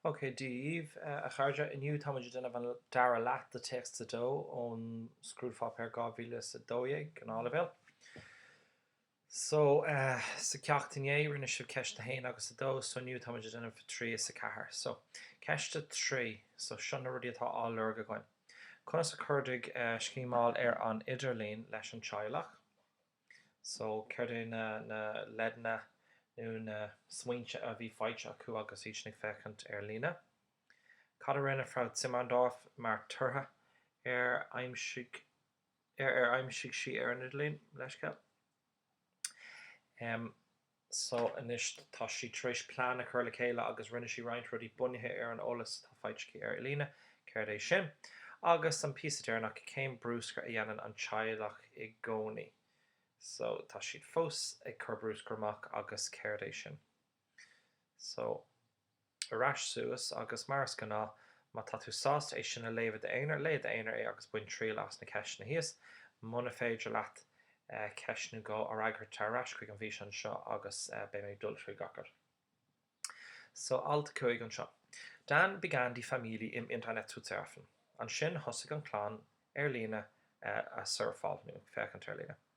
OK, Dia daoibh, a chairde, inniu táimid ag déanamh an dara leath de téacs 2 ón scrúdpháipéar 2012 gnáthleibhéal. So, sa gceacht inné, rinne sibh ceist 1 agus 2, so inniu táimid ag déanamh 3 is 4. So, ceist 3, so seo na rudaí atá á lorg againn. Conas a chuidigh scimeáil ar an idirlíon leis an teaghlach? So, céard é na, na leideanna nó na smaointe a bhí faighte acu agus iadsan ag féachaint ar líne? Cad a rinne Frau Zimmerndorf mar toradh ar, ar aimsigh sí ar an idirlíon? Leithscéal. Um. So anois tá sí tar éis plean a chur le chéile agus rinne sí roinnt rudaí bunaithe ar an eolas atá faighte aici ar líne, céard é sin? agus an píosa deireanach, cén bruscar a dhéanann an teaghlach i gcónaí? So tá siad fós ag cur bruscar amach agus céard é sin? So ar ais suas agus mar is gnáth, má tá tú sásta é sin a léamh i d'aonar, léigh i d'aonar é agus bain triail as na ceisteanna thíos. Muna féidir leat ceist nó dhó a fhreagairt, tar ar ais chuig an bhfíseán seo agus beidh mé ag dul trí gach rud. So, alt a cúig anseo. Dann begann die Familie im Internet zu surfen, Ansin thosaigh an chlann ar líne a surfáil, nó féachaint ar líne.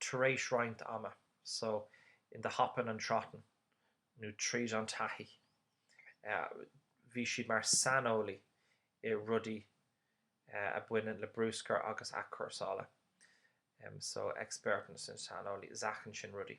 tar éis roinnt ama, so in the hoppin' and trottin', nó tríd an taithí. Bhí siad mar saineolaí i rudaí a bhaineann le bruscar agus athchúrsála, so Experten sin saineolaí, Sachen sin rudaí.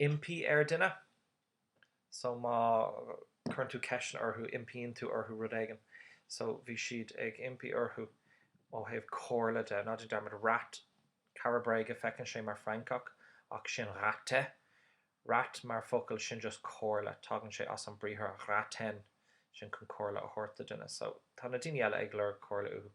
impí ar dhuine. So má cuireann tú ceisteanna orthu, impíonn tú orthu rud éigin. So bhí siad ag impí orthu ó thaobh comhairle de. Ná déan dearmad, Rat, cara bréige, feiceann sé mar francach ach sin Ratte. Rat mar focal, sin just comhairle, tagann sé as an briathar raten, sin chun comhairle a thabhairt do dhuine. So tá na daoine eile ag lorg comhairle uathu.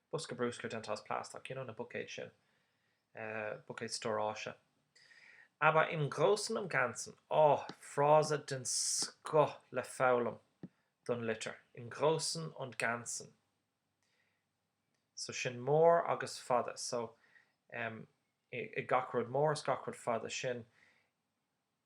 Bosca bruscair déanta as plaisteach, you know na buicéid sin, buicéid stóráise, aber im Großen und Ganzen. Ááá, frása den scoth le foghlaim don litir, im Großen und Ganzen. So sin mór agus fada, so, em, i gach rud mór is gach rud fada, sin.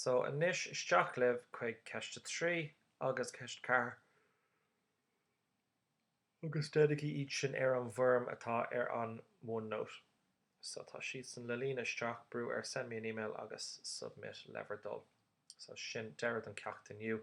So anois isteach libh chuig ceist a trí agus ceist a ceathair agus déanaigí iad sin ar an bhfoirm atá ar an OneNote. So tá siadsan le líonadh isteach, brúigh ar Send me an email agus Submit le bhur dtoil. So sin deireadh don ceacht inniu.